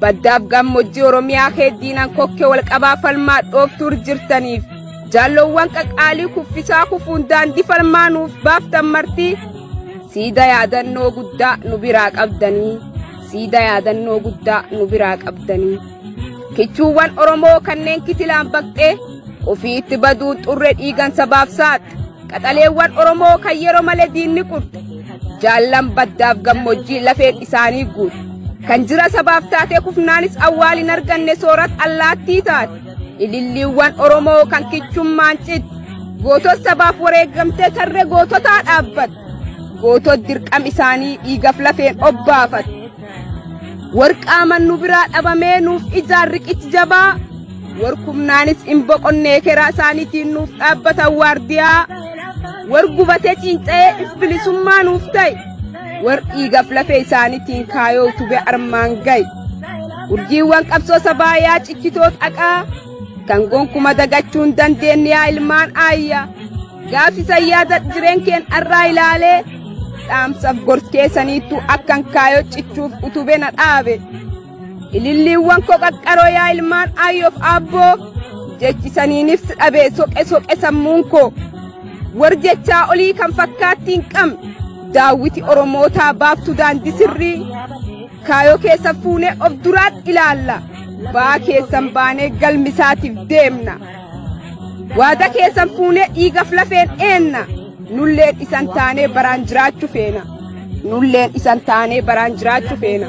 Baddaaf gammoojjii Oromiyaa kee diinan kokkee wal qabaa falmaa dhooftuur jirtaniif jaalloowwan qaqaalii kuffisaa kufuun daandii falmaa nuuf baaftan martii siida yaadannoo guddaa nu biraa qabdanii siida yaadannoo guddaa nu biraa qabdanii kichuuwwan Oromoo kanneen kitilaan baqxee ofiitti baduu xurre dhiigan sabaaf saaxxe Qaxaleewwan Oromoo kan yeroo malee diinni qurxu jaallan baddaaf gammoojjii lafeen isaanii guutu. Kan jira sabaaf taatee kufnaanis awwaal hin arganne soorat allaattii taate. Ililliiwwan Oromoo kan kichummaan citti. Gootot sabaaf wareegamtee tarree goototaa dhaabbatu. Gootot dirqam isaanii dhiigaf lafeen obbaafatu. Warqaaman nu biraa dhabamee nuuf ijaan riqichi jabaa warkumnaanis hin boqonnee keraa isaaniitiin nuuf dhaabbatan waardiyaa war gubatee ciinca'ee if bilisummaa nuuf ta'e war dhiigaf lafee isaaniitiin kaayoo utubee armaan ga'e urjiiwwan qabsoo sabaa yaa cichitoo xaqaa kan gonkuma dagachuun dandeenye yaa ilmaan aayyaa. Gaaffi sayyaata jireen keen arraa ilaalee dhaamsaf gorskee saniittu akkan kaayoo cichuuf utube na dhaabe. Ililliiwwan koo qaqqaroo yaa ilmaan aayyoof aabboo jechi saniinif si dhabe soqe soqe sammuun koo. War jechaa olii kan fakkaatti hin qabne daawwiti Oromootaa baaftu daandii sirrii kaayoo keessa fuunee of duraatti ilaalla. Baa keessan baanee galmisaatiif deemna. Waada keessan fuunee dhiigaf lafeen eenna. Nulleen isan taanee baraan jiraachu feena. Nulleen isan taanee baraan jiraachu feena.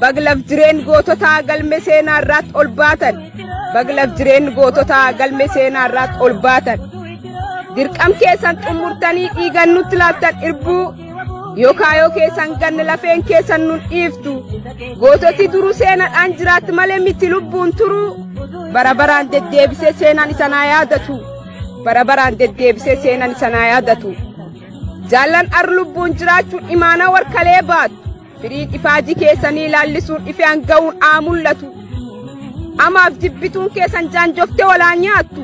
Baglaf jireen goototaa galme seenaa irraatti ol baatan. Baglaf jireen goototaa galme seenaa irraatti ol baatan. Dirqam keessan xumurtanii dhiigan nutti laattan irbuu yookaayoo keessan ganne lafeen keessan nun dhiiftu. Goototi duruu seenaadhaan jiraatti malee miti lubbuun turuu. Bara baraan deddeebisee seenaan isanaa yaadatu. Bara baraan deddeebisee seenaan isanaa yaadatu. Jaallan ar lubbuun jiraachuun imaanaa warkalee baatu. Firiin ifaajii keessanii laallisuun ifaan ga'uun haa mul'atu. Amaaf jibbituun keessan jaanjoftee walaa nyaattu.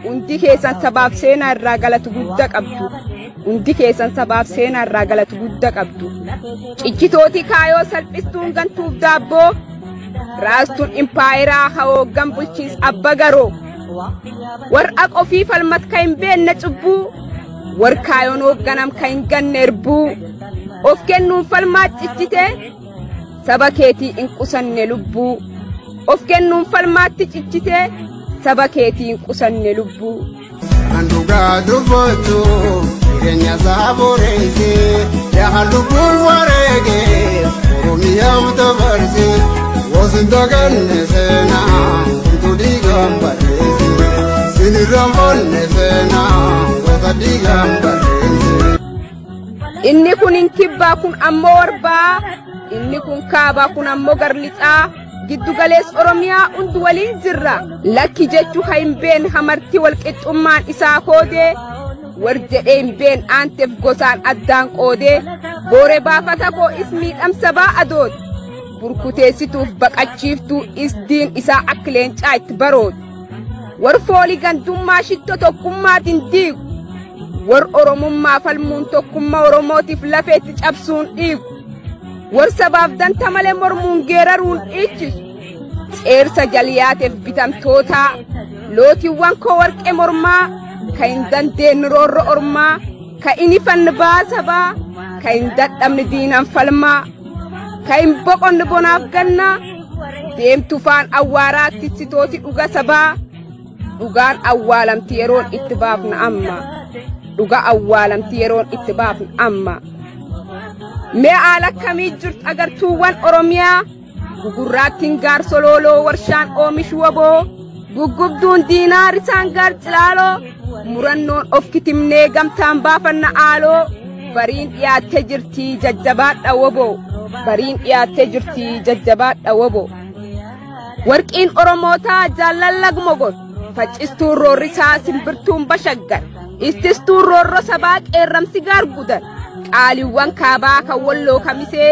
Hundi keessan sabaaf seenaa irraa galatu guddaa qabdu. Hundi keessan sabaaf seenaa irraa galatu guddaa qabdu. Cichitootii kaayoo salphistuun gantuuf daabboo. Raastuun impaayeraa hawooggan bulchiis abba garoo. Warra qofii falmatka hin beekne cubbuu. Warkaayoon hoogganam kan hin ganne erbuu of kennuun falmaa cichitee saba keetii hin qusanne lubbuu of kennuun falmaatti cichitee saba keetii hin qusanne lubbuu. Kan dhugaa dubbatu jireenya isaa boreesse yaa lubbuu wareege oromiyaaf dabarse Wasin daganne seena utuu dhiigaan barreesse. Sinirraan foonne seena goota dhiigaan barreesse. Inni kun hin kibbaa kun ammoo warbaa. Inni kun kaabaa kun ammoo garlixaa. Giddu galees Oromiyaa hundi waliin jirra. Lakki jechuu ha hin been hamartii walqixxummaan isaa koodee. War jedhee hin been aanteef gosaan addaan qoodee. Boore baafata koo is miidhamsa baa adooti. burkuteessituuf baqachiiftuu isdiin isaa akka leencaa itti baroodu war foolii gandummaa shitto tokkummaatiin diigu war oromummaa falmuun tokkummaa oromootiif lafeetti cabsuun dhiigu war sabaaf danta malee mormuun geeraruun dhiichisu ceersa jaliyaateef bitamtootaa lootiiwwan koo warqee mormaa kan hin dandeenye roorro ormaa ka inni fannibaa sabaa ka hin dadhabne diinaan falmaa ka hin boqonne bonaaf gannaa deemtu faan awwaaraa tissitooti dhuga sabaa dhugaan awwaalamti yeroon itti baafna amma dhuga awwaalamti yeroon itti baafna amma mee aala akkamii jirtu agartuuwwan oromiyaa Gugurraattiin gaar solooloo warshaan oomishu waboo guggubduun diinaa risaan gaar cilaaloo murannoon of kitimnee gamtaan baafanna aaloo bariin dhiyaattee jirti jajjabaadha waboo bariin dhiyaattee jirti jajjabaadha waboo. Warqiin Oromootaa jaallan lagmogot faccistuun roorrisaa simbirtuun bashaggar ittistuun roorro sabaa qeerramsi gaar gudan qaaliiwwan kaabaa kan walloo kamisee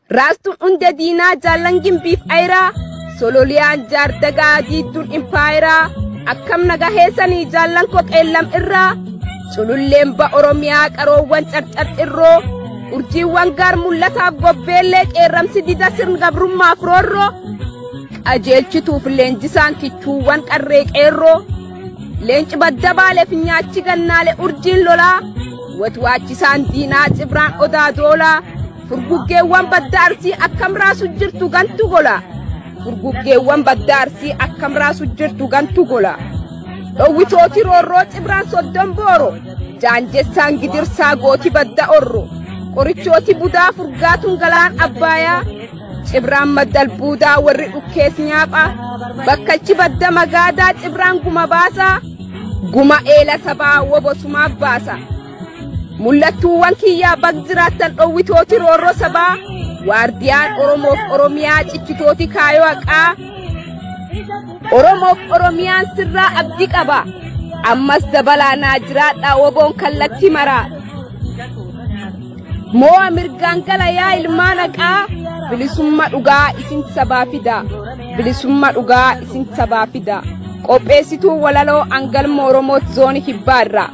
Raastuun hunda diinaa jaallan gimbiif ayiraa sololiyaan jaardagaa diidduun impaayiraa akkam naga heessanii jaallan koo qeellam irraa cululleen ba oromiyaa qaroowwan carcar xirroo urjiiwwan gaar mul'ataaf gobbeellee qeerramsi dida sirn gabrummaaf roorroo qajeelchituuf leenjisaan kichuuwwan qarree qeerroo leenci badda baale finyaachi gannaale urjiin lolaa watwaachisaan diinaa cibraan odaa doolaa Furguggeewwan badda arsii akkam raasu jirtu gantu gola. Furguggeewwan badda arsii akkam raasu jirtu gantu gola. Dhowwitooti roorroo cibraan soddon booro. Jaanjessaan gidirsaa gooti badda orro. Qorichooti budaa furgaatuun galaan abbaayaa. Cibraan maddal buudaa warri dhukkees nyaapha. Bakkalchi badda magaadaa cibraan guma baasaa. Guma eela sabaa wobosumaaf baasa. Mul'attuuwwan kiyyaa bag jiraattan dhowwitooti roorroo sabaa waardiyaan Oromoof Oromiyaa cichitooti kaayoo haqaa Oromoof Oromiyaan sirraa abdi qaba ammas dabalaa naa jiraadhaa woboon kallattii maraa. Moo'a mirgaan gala yaa ilmaan haqaa bilisumma dhugaa isin sabaa fida bilisumma dhugaa isin sabaa fida qopheessituu walaloo angalma oromoot zooni kibbaa irraa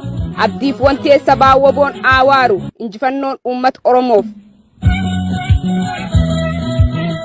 abdiif wantee sabaa woboon aawaaru injifannoon uummata oromoof.